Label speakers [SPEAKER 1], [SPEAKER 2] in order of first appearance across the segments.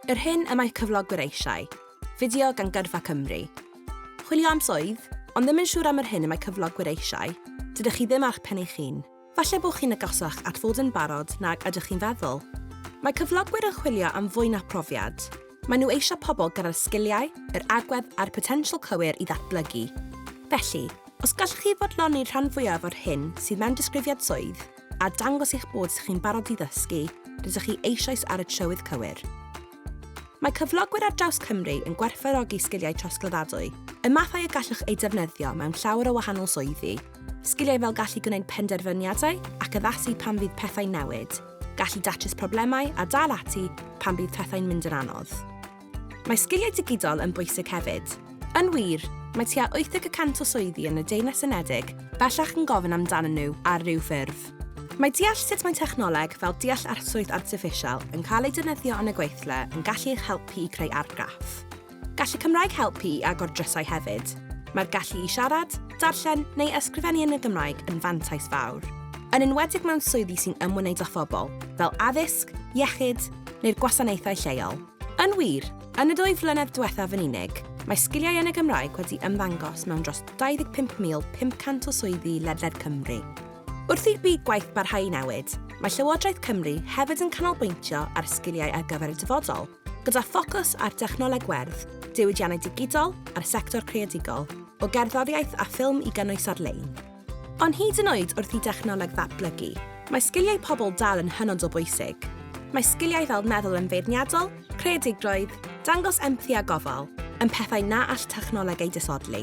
[SPEAKER 1] Yr hyn y mae cyflogwyr eisiau. Fideo gan Gyrfa Cymru. Chwilio am swydd, ond ddim yn siŵr am yr hyn y mae cyflogwyr eisiau? Dydych chi ddim â'ch pen eich hun. Falle bod chi'n agosach at fod yn barod nag ydych chi'n feddwl. Mae cyflogwyr yn chwilio am fwy na phrofiad. Maen nhw eisiau pobl gyda'r sgiliau, yr agwedd a'r potensial cywir i ddatblygu. Felly, os gallwch chi fodloni'r rhan fwyaf o'r hyn sydd mewn disgrifiad swydd, a dangos eich bod chi'n barod i ddysgu, rydych chi eisoes ar y trywydd cywir. Mae cyflogwyr ar draws Cymru yn gwerthfawrogi sgiliau trosglwyddadwy, y mathau y gallwch eu defnyddio mewn llawer o wahanol swyddi, sgiliau fel gallu gwneud penderfyniadau ac addasu pan fydd pethau'n newid, gallu datrys problemau a dal ati pan bydd pethau'n mynd yn anodd. Mae sgiliau digidol yn bwysig hefyd. Yn wir, mae tua 80 y cant o swyddi yn y Deyrnas Unedig bellach yn gofyn amdanyn nhw ar ryw ffurf. Mae deall sut mae technoleg fel deallt-artswydd artiffisial yn cael ei defnyddio yn y gweithle yn gallu eich helpu i creu argraff. Gall y Cymraeg helpu i agor drysau hefyd. Mae'r gallu i siarad, darllen neu ysgrifennu yn y Gymraeg yn fantais fawr, yn enwedig mewn swyddi sy'n ymwneud â phobl, fel addysg, iechyd neu'r gwasanaethau lleol. Yn wir, yn y dwy flynedd diwethaf yn unig, mae sgiliau yn y Gymraeg wedi ymddangos mewn dros 25,500 o swyddi ledled Cymru. Wrth i'r byd gwaith barhau i newid, mae Llywodraeth Cymru hefyd yn canolbwyntio ar sgiliau ar gyfer y dyfodol, gyda ffocws ar dechnoleg werdd, diwydiannau digidol a'r sector creadigol, o gerddoriaeth a ffilm i gynnwys ar-lein. Ond hyd yn oed wrth i dechnoleg ddatblygu, mae sgiliau pobl dal yn hynod o bwysig. Mae sgiliau fel meddwl yn feirniadol, creadigrwydd, dangos empathi a gofal, yn pethau na all technoleg eu disodli.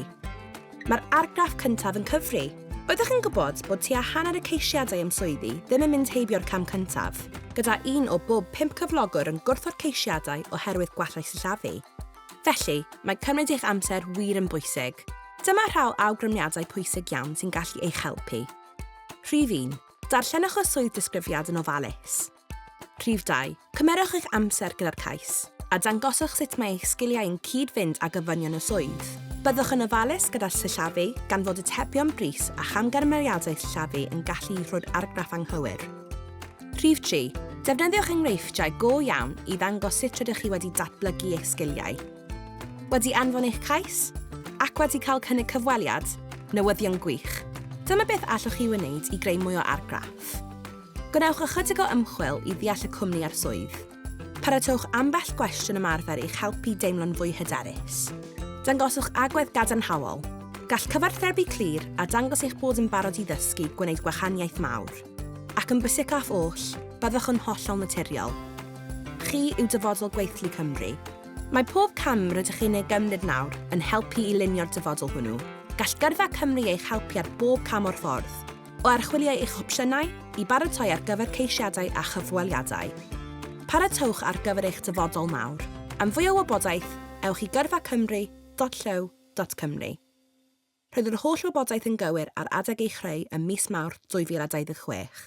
[SPEAKER 1] Mae'r argraff cyntaf yn cyfri. Oeddech yn gwybod bod tua hanner y ceisiadau am swyddi ddim yn mynd heibio'r cam cyntaf, gyda un o bob pump cyflogwr yn gwrthod ceisiadau oherwydd gwallau sillafu? Felly, mae cymryd eich amser wir yn bwysig. Dyma rhaw awgrymiadau pwysig iawn sy'n gallu eich helpu. Rhif 1. Darllenwch y swydd disgrifiad yn ofalus. Rhif 2. Cymerwch eich amser gyda'r cais, a dangoswch sut mae eich sgiliau yn cyd-fynd â gofynion y swydd. Byddwch yn ofalus gyda'r sillafu, gan fod atebion brys a chamgymeriadau sillafu yn gallu rhoi'r argraff anghywir. Rhif 3. Defnyddiwch enghreifftiau go iawn i ddangos sut rydych chi wedi datblygu eich sgiliau. Wedi anfon eich cais? Ac wedi cael cynnig cyfweliad? Newyddion gwych! Dyma beth allwch chi wneud i greu mwy o argraff. Gwnewch ychydig o ymchwil i ddeall y cwmni a'r swydd. Paratowch ambell gwestiwn ymarfer i'ch helpu deimlo'n fwy hyderus. Dangoswch agwedd gadarnhaol. Gall cyfathrebu clir a dangos eich bod yn barod i ddysgu gwneud gwahaniaeth mawr. Ac yn bwysicaf oll, byddwch yn hollol naturiol. Chi yw dyfodol gweithlu Cymru. Mae pob cam rydych chi'n ei gymryd nawr yn helpu i lunio'r dyfodol hwnnw. Gall gyrfa Cymru eich helpu ar bob cam o'r ffordd. o archwilio eich opsiynau i baratoi ar gyfer ceisiadau a chyfweliadau. Paratowch ar gyfer eich dyfodol mawr. Am fwy o wybodaeth, ewch i gyrfacymru.llyw.cymru. Roedd yr holl wybodaeth yn gywir ar adeg ei chreu ym mis Mawrth 2026.